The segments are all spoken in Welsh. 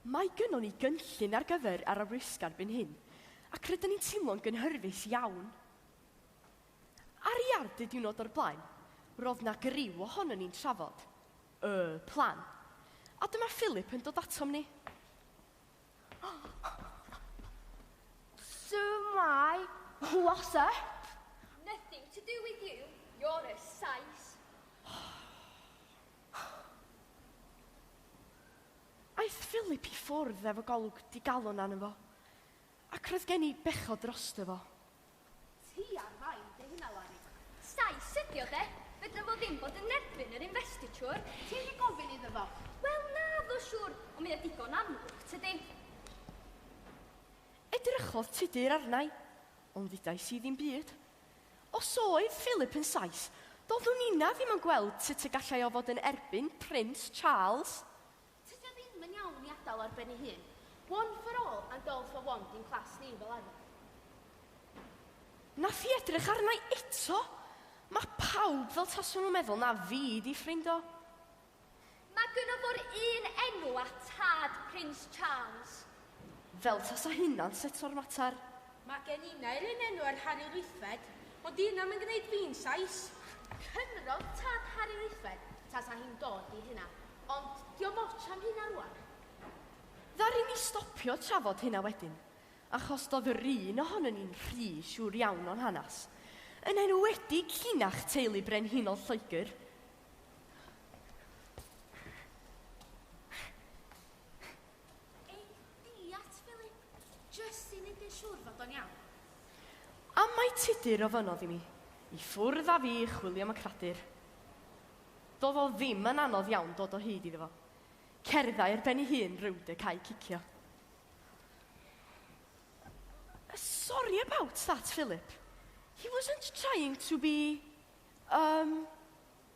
Mae gynnon ni gynllun ar gyfer yr addysg erbyn hyn, ac rydyn ni'n teimlo'n gynhyrfus iawn. Ar y iard y diwrnod o'r blaen, roedd na griw ohonon ni'n trafod Y plan. A dyma Philip yn dod atom ni. So my what's up? Nothing to do with you, you're a size. Aeth Philip i ffwrdd efo golwg digalon arno fo, ac roedd gen i bechod drosto fo. Ti ar fain dy huna Larry. Sais ydi o de? Fedra fo ddim bod yn erbyn yr investiture. Ti di gofyn iddo fo? Wel naddo siwr, ond mae o digon amlwg tydi? Edrychodd Tudur arnai, ond ddudais i ddim byd. Os oedd Philip yn Sais, doeddwn inna ddim yn gweld sut y gallai o fod yn erbyn Prince Charles. Tydi o ddim yn iawn i adal ar ben ei hun. One for all and all for one di'n class ni fel arfer. Nath hi edrych arna i eto! Ma' pawb fel tasa nhw'n meddwl na fi 'di ffrind o. Mae gynno fo'r un enw â tad Prince Charles. Fel tasa hynna'n seto'r mater! Mae gen i naill un enw ar Harri Rithfed, ond dyw hynna 'm yn gneud fi'n Sais! Cymrodd tad Harri Rithfed tasa hi'n dod i hynna, ond 'di o'm otsh am hynna rwan. Ddaru ni stopio trafod hynna wedyn, achos do'dd yr un ohonon ni'n rhy siŵr iawn o'n hanas, yn enwedig llinach teulu brenhinol Lloegr. Ei diat, Philip, jyst i neud yn siŵr fod o'n iawn. Am mai Tudur ofynnodd i mi i ffwrdd â fi i chwilio am y cradur. Do'dd o ddim yn anodd iawn dod o hyd iddo fo. Cerddai ar ben 'i hun rownd y cae cicio. Sorry about that, Philip. He wasn't trying to be, um,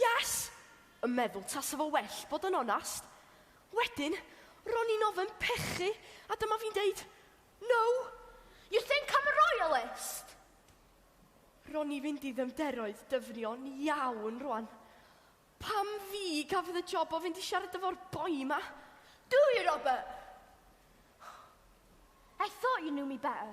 Yes! yn meddwl tasa fo well bod yn onast. Wedyn, ro'n i'n ofn pechu a dyma fi'n deud, No! You think I'm a royalist? Ro'n i fynd i ddyfnderoedd dyfnion iawn rwan. Pam fi gafodd y job o fynd i siarad efo'r boi ma? Do you, Robert? I thought you knew me better.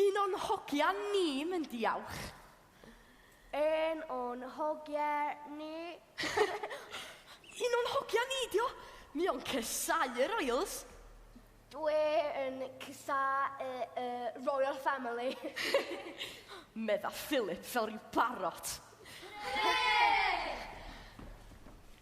Un o'n hogia ni myn diawch. Un o'n hogia ni. Un o'n hogia ni dio. Mi o'n cysau y royals. Dwi yn cysau y y royal family. Medda Phillip fel ryw barot. Hwre!